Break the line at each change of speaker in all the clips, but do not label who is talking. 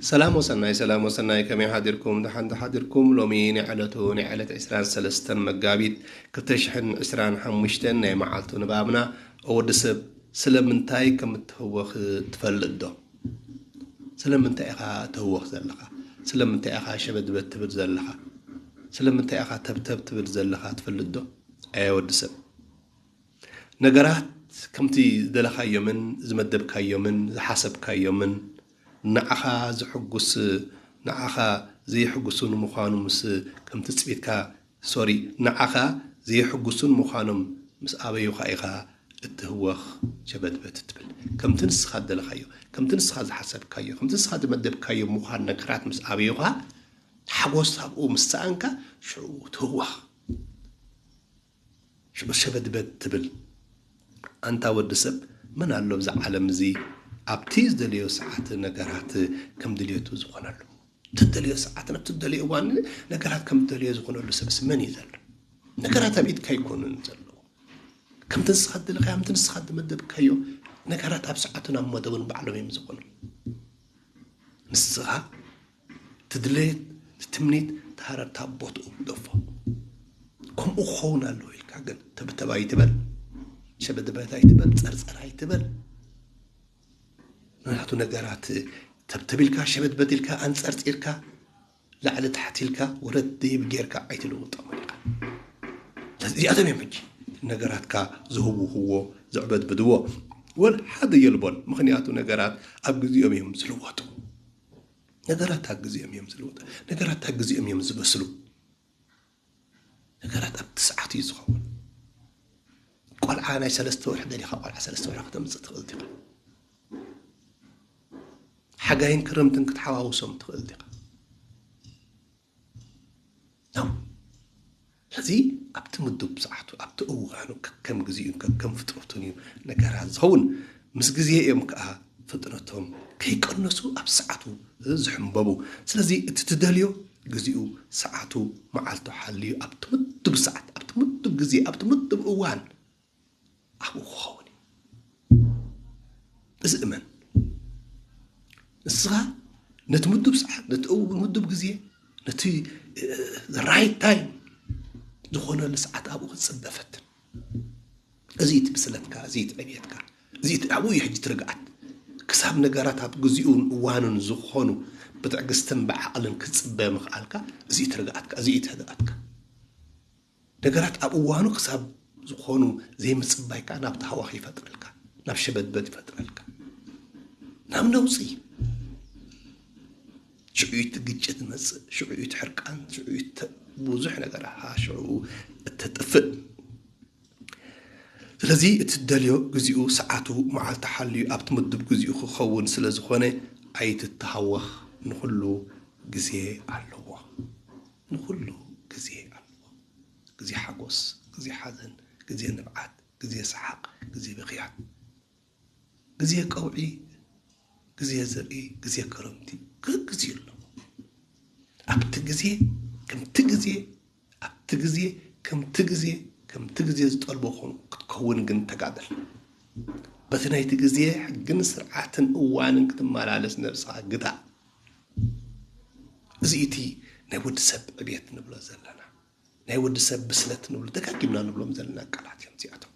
ሰላም ወሰናይ ሰላም ወሰናይ ከመይ ሓዲርኩም ደሓን ዶ ሓዲርኩም ሎሚ ናይ ዕለቱ ናይ ዕለት ዕስራን ሰለስተን መጋቢት ክልተ ሽሕን ዕስራን ሓሙሽተን ናይ መዓልቱ ንባብና ኦ ወዲ ሰብ ስለምንታይ ከም እትህወኽ ትፈልጥ ዶ ስለምንታይ ኢኻ ትህወኽ ዘለኻ ስለምንታይ ኢኻ ሸበድበድ ትብል ዘለኻ ስለምንታይ ኢኻ ተብተብ ትብል ዘለኻ ትፈልጥ ዶ ኣየ ወዲ ሰብ ነገራት ከምቲ ዝደለኻዮምን ዝመደብካዮምን ዝሓሰብካዮምን ንዓኻ ዘሕጉስ ንዓኻ ዘየሕጉሱን ምዃኑ ምስ ከም ትጽቢትካ ሶሪ ንዓኻ ዘየሕጉሱን ምዃኖም ምስ ኣበዩኻ ኢኻ እትህወኽ ሸበትበት እትብል ከምቲ ንስኻ ዝደለኻዮ ከምቲ ንስኻ ዝሓሰብካዮ ከምቲ ንስኻ ዝመደብካዮ ምዃን ነገራት ምስ ኣበዩኻ ሓጎስ ኣብኡ ምስ ሰኣንካ ሽዑ ትህወኽ ሸበድበድ ትብል ኣንታ ወዲ ሰብ መን ኣሎ ኣብዛ ዓለም እዚ ኣብቲ ዝደለዮ ሰዓት ነገራት ከም ድልየቱ ዝኾነሉ እትደልዮ ሰዓትን ኣብቲ ዝደለዮ እዋን ነገራት ከም እትደልዮ ዝኾነሉ ሰብስ መን እዩ ዘሎ ነገራት ኣብ ኢድካ ኣይኮኑን ዘሎ ከምቲ ንስኻ እትደለኻዮ ከምቲ ንስኻ እትመደብካዮ ነገራት ኣብ ሰዓቱን ኣብ መደቡን ባዕሎም እዮም ዝኾኑ ንስኻ እቲ ድሌት እቲ ትምኒት እቲ ሃረርታ ቦትኡ ግደፎ ከምኡ ክኸውን ኣለዎ ኢልካ ግን ተብተብ ኣይትበል ሸበድበት ኣይትበል ፀርፀር ኣይትበል ምክንያቱ ነገራት ተብተብ ኢልካ ሸበድበት ኢልካ ኣንፀርፂርካ ላዕሊ ታሕቲ ኢልካ ወረድ ደይብ ጌርካ ኣይትልውጦም ኢኻ እዚኣቶም እዮም ሕጂ ነገራትካ ዝህውህዎ ዘዕበድብድዎ ወል ሓደ የልቦን ምክንያቱ ነገራት ኣብ ግዜኦም እዮም ዝልወጡ ነገራት ኣግዜኦም እዮም ዝልወጡ ነገራት ኣግዜኦም እዮም ዝበስሉ ነገራት ኣብቲ ሰዓት እዩ ዝኸውን ቆልዓ ናይ ሰለስተ ወርሒ ደሊኻ ቆልዓ ሰለስተ ወርሒ ክተምፅእ ትኽእል ዲኻ ሓጋይን ክረምትን ክትሓዋውሶም ትኽእል ዲኻ ነው። ስለዚ ኣብቲ ምዱብ ሰዓቱ ኣብቲ እዋኑ ከከም ግዜኡን ከከም ፍጥረቱን እዩ ነገራት ዝኸውን ምስ ግዜ እዮም ከዓ ፍጥረቶም ከይቀነሱ ኣብ ሰዓቱ ዝሕንበቡ ስለዚ እቲ ትደልዮ ግዚኡ ሰዓቱ መዓልቱ ሓልዩ ኣብቲ ምዱብ ሰዓት ኣብቲ ምዱብ ግዜ ኣብቲ ምዱብ እዋን ኣብኡ ክኸውን እዩ እዚ እመን ንስኻ ነቲ ምዱብ ሰዓት ነቲ ምዱብ ግዜ ነቲ ራይት ታይም ዝኾነሉ ሰዓት ኣብኡ ክትፅበ ፈትን እዚ እቲ ብስለትካ እዚ እቲ ዕብየትካ እዚ እቲ ኣብኡ እዩ ሕጂ ትርግኣት ክሳብ ነገራት ኣብ ግዜኡን እዋኑን ዝኾኑ ብትዕግስትን ብዓቕልን ክትፅበ ምኽኣልካ እዚ እዩ ትርግኣትካ እዚ እዩ ትህድኣትካ ነገራት ኣብ እዋኑ ክሳብ ዝኾኑ ዘይምጽባይ ከኣ ናብ ታህዋኽ ይፈጥረልካ፣ ናብ ሸበድበድ ይፈጥረልካ፣ ናብ ነውጺ። ሽዑ እቲ ግጭት ዝመጽእ፣ ሽዑ እቲ ሕርቃን፣ ሽዑ እቲ ብዙሕ ነገር ኣሃ ሽዑ እተጥፍእ። ስለዚ እትደልዮ ግዚኡ፣ ሰዓቱ፣ መዓልቱ ሓልዩ ኣብቲ ምዱብ ግዚኡ ክኸውን ስለ ዝኾነ ኣይትተሃወኽ፣ ንኹሉ ግዜ ኣለዎ። ንኹሉ ግዜ ኣለዎ ግዜ ሓጎስ ግዜ ሓዘን ግዜ ንብዓት ግዜ ሰሓቅ ግዜ ብኽያ ግዜ ቀውዒ ግዜ ዘርኢ ግዜ ክረምቲ ግዜ ኣሎ ኣብቲ ግዜ ከምቲ ግዜ ኣብቲ ግዜ ከምቲ ግዜ ከምቲ ግዜ ዝጠልቦ ኾኑ ክትከውን ግን ተጋደል በቲ ናይቲ ግዜ ሕግን ስርዓትን እዋንን ክትመላለስ ነብስኻ ግታ እዚ እቲ ናይ ወዲ ሰብ ዕብየት ንብሎ ዘለና ናይ ወዲ ሰብ ብስለት ንብሎ ደጋጊምና ንብሎም ዘለና ቃላት እዮም እዚኣቶም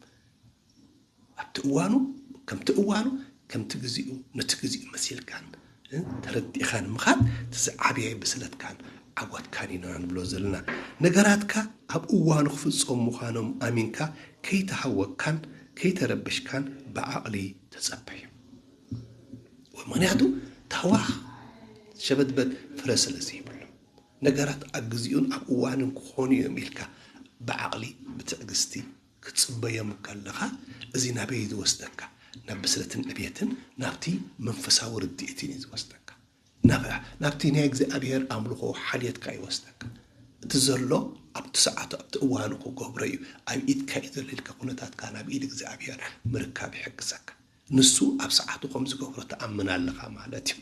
ኣብቲ እዋኑ ከምቲ እዋኑ ከምቲ ግዜኡ ነቲ ግዜኡ መሲልካን ተረዲእኻን ምኻድ እቲ ዝዓበየ ብስለትካን ዓወትካን ኢና ንብሎ ዘለና ነገራትካ ኣብ እዋኑ ክፍፀሙ ምዃኖም ኣሚንካ ከይተሃወካን ከይተረበሽካን ብዓቕሊ ተፀበዩ ምኽንያቱ ታዋኽ ሸበትበት ፍረ ስለ ዘይብሉ። ነገራት ኣብ ግዜኡን ኣብ እዋኑን ክኾኑ እዮም ኢልካ ብዓቕሊ ብትዕግስቲ ክትጽበዮም እንከለኻ እዚ ናበይ እዩ ዝወስደካ? ናብ ብስለትን ዕብየትን ናብቲ መንፈሳዊ ርድኢትን እዩ ዝወስደካ። ናብቲ ናይ እግዚኣብሔር ኣምልኾ ሓልየትካ ይወስደካ። እቲ ዘሎ ኣብቲ ሰዓቱ ኣብቲ እዋኑ ክገብሮ እዩ ኣብ ኢድካ እዩ ዘሎ ኢልካ ኩነታትካ ናብ ኢድ እግዚኣብሔር ምርካብ ይሕግዘካ። ንሱ ኣብ ሰዓቱ ከም ዝገብሮ ትኣምን ኣለኻ ማለት እዩ።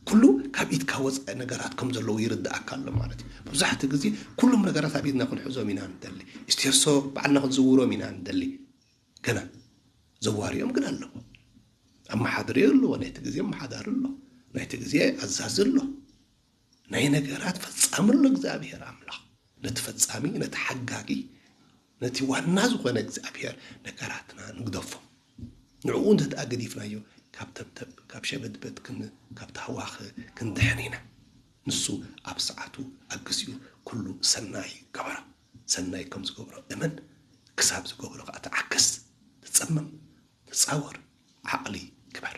ኩሉ ካብ ኢድካ ወጻኢ ነገራት ከም ዘለዉ ይርድኣካ ኣሎ ማለት እዩ። መብዛሕትኡ ግዜ ኩሎም ነገራት ኣብ ኢድና ክንሕዞም ኢና ንደሊ። ስቴርሶ ባዕልና ክንዝውሮም ኢና ንደሊ። ገና ዘዋሪኦም ግን ኣለዉ። ኣመሓድሪ ኣለዎ፣ ናይቲ ግዜ ኣመሓዳሪ ኣሎ፣ ናይቲ ግዜ ኣዛዚ ኣሎ። ናይ ነገራት ፈጻሚ ኣሎ እግዚኣብሔር ኣምላኽ ነቲ ፈጻሚ ነቲ ሓጋጊ ነቲ ዋና ዝኾነ እግዚኣብሔር ነገራትና ንግደፎ ንዕኡ እንተደኣ ገዲፍናዮ ካብ ተብተብ ካብ ሸበትበት ካብ ታህዋኸ ክንድሕን ኢና ንሱ ኣብ ሰዓቱ ኣብ ግዜኡ ኩሉ ሰናይ ገበሮ ሰናይ ከም ዝገብሮ እመን ክሳብ ዝገብሮ ከዓ ተዓገስ ተፀመም ተፃወር ዓቕሊ ግበር